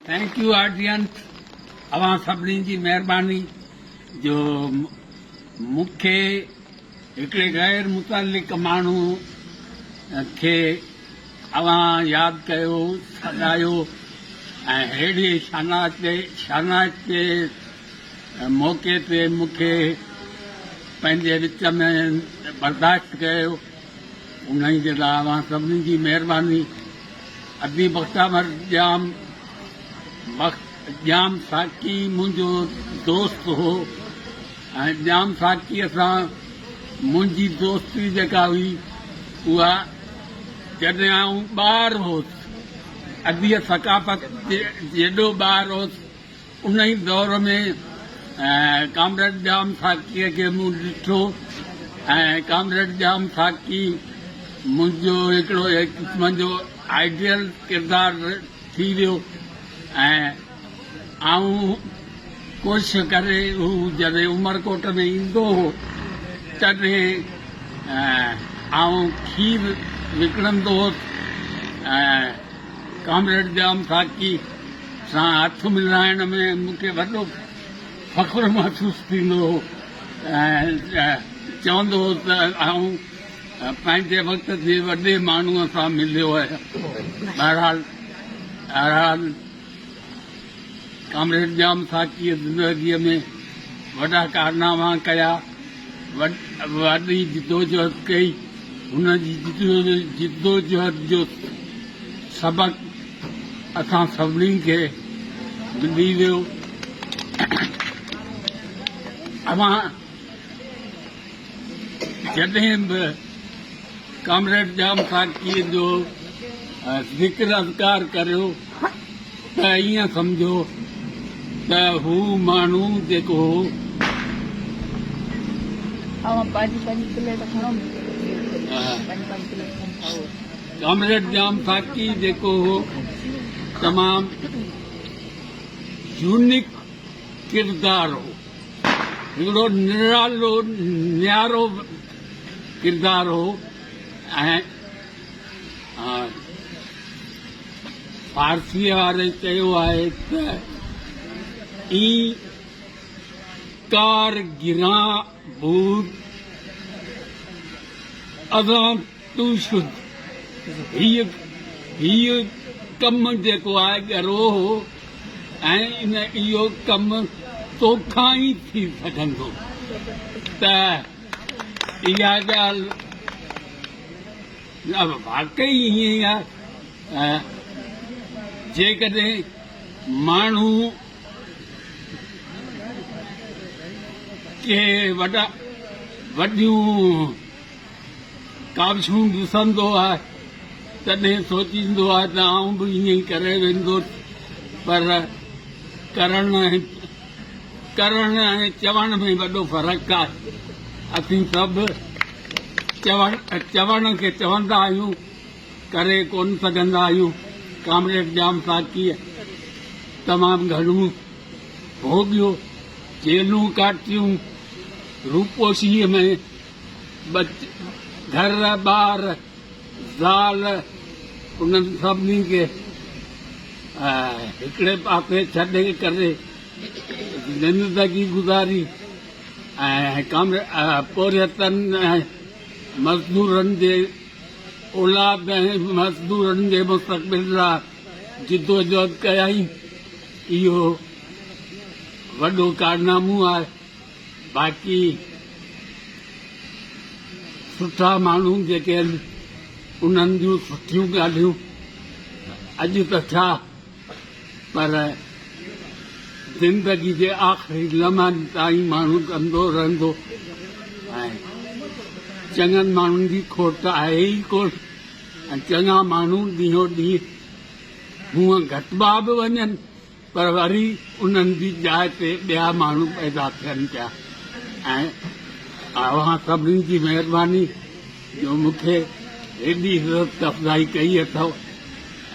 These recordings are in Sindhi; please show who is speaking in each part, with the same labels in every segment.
Speaker 1: ٿينڪ يو آڊينس اوهان سڀني جي مهرباني جو مون کي هڪڙي غير متعلق ماڻهو کي اوهان ياد ڪيو سڏايو ۽ ههڙي شانائتي موقعي تي مون کي پنهنجي وچ ۾ برداشت ڪيو انهي جي لاء اوهان سڀني جي مهرباني ادبي مختامر ڄام مخ ڄام ساقي منهنجو دوست هو ۽ ڄام ساقيء سان منهنجي دوستي جيڪا هئي اها جڏهن آئون ٻار هوس ادبي ثقافت جي جيڏو ٻار هوس انهيء دور ۾ ڪامريڊ ڄام ساقيء کي مون ڏٺو ۽ ڪامريڊ ڄام ساقي منهنجو هڪڙو هڪ قسم جو آئيڊيل ڪردار ٿي ويو ۽ آئون ڪوشش ڪري هو جڏهن عمرڪوٽ ۾ ايندو هو تڏهن آئون کير وڪڻندو هوس ۽ ڪامريڊ ڄام ساقي سان هٿ ملائڻ ۾ مون کي وڏو فخر محسوس ٿيندو هو ۽ چوندو هو ته آئون پنهنجي وقت جي وڏي ماڻهوء سان مليو آهيان. بهرحال بهرحال ڪامريڊ ڄام ساقيء زندگيء ۾ وڏا ڪارناما ڪيا، وڏي جدوجهد ڪئي، هن جي جدوجهد جو سبق اسان سڀني کي ملي ويو. اوهان جڏهن به ڪامريڊ ڄام ساقيء جو ذڪر اذڪار ڪريو ته ائين سمجهو ته هو ماڻهو جيڪو هو، اوهان پنهنجي پنهنجي پليٽ کڻو، مون کي به ڏيو پليٽ، پنهنجي پنهنجي پليٽ کڻي کائو. ڪامريڊ ڄام خاڪي جيڪو هو تمام يونيڪ ڪردار هو هڪڙو نرالو نيارو ڪردار هو ۽ فارسيء واري چيو آهي ته اي ڪار گران بود اذان تون سڌ هيء هيء ڪم جيڪو آهي ڳرو هو ۽ اهو ڪم توکان ئي ٿي سگهندو ته اها ڳالهه واقعي ائين آهي جيڪڏهن ماڻهو ڪي وڏيون ڪاوشون ڏسندو آهي، تڏهن سوچيندو آهي ته آئون به ائين ئي ڪري ويندس، پر ڪرڻ ۽ ڪرڻ ۽ چوڻ ۾ وڏو فرق آهي. اسين سڀ چوڻ چوڻ کي چوندا آهيون، ڪري ڪونه سگهندا آهيون. ڪامريڊ ڄام ساقيء تمام گهڻو ڀوڳيو، جيلون ڪاٽيون، روپوشيء ۾. گهر ٻار زال انهن سڀني کي هڪڙي پاسي ڇڏي ڪري زندگي گذاري ۽ پورهيتن ۽ مزدورن جي اولاد ۽ مزدورن جي مستقبل لاء جدوجهد ڪيائين اهو وڏو ڪارنامو آهي. باقي سٺا ماڻهو جيڪي آهن انهن جون سٺيون ڳالهيون اڄ ته ڇا پر زندگي جي آخري لمحن تائين ماڻهو ڪندو رهندو چڱن ماڻهن جي کوٽ آهي ئي ڪونه ۽ چڱا ماڻهو ڏينهون ڏينهن هونئن گهٽبا به وڃن پر وري انهن جي جاء تي ٻيا ماڻهو پيدا ٿين پيا ۽ اوهان سڀني جي مهرباني جو مون کي هيڏي عزت افزائي ڪئي اٿئو،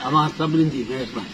Speaker 1: اوهان سڀني جي مهرباني.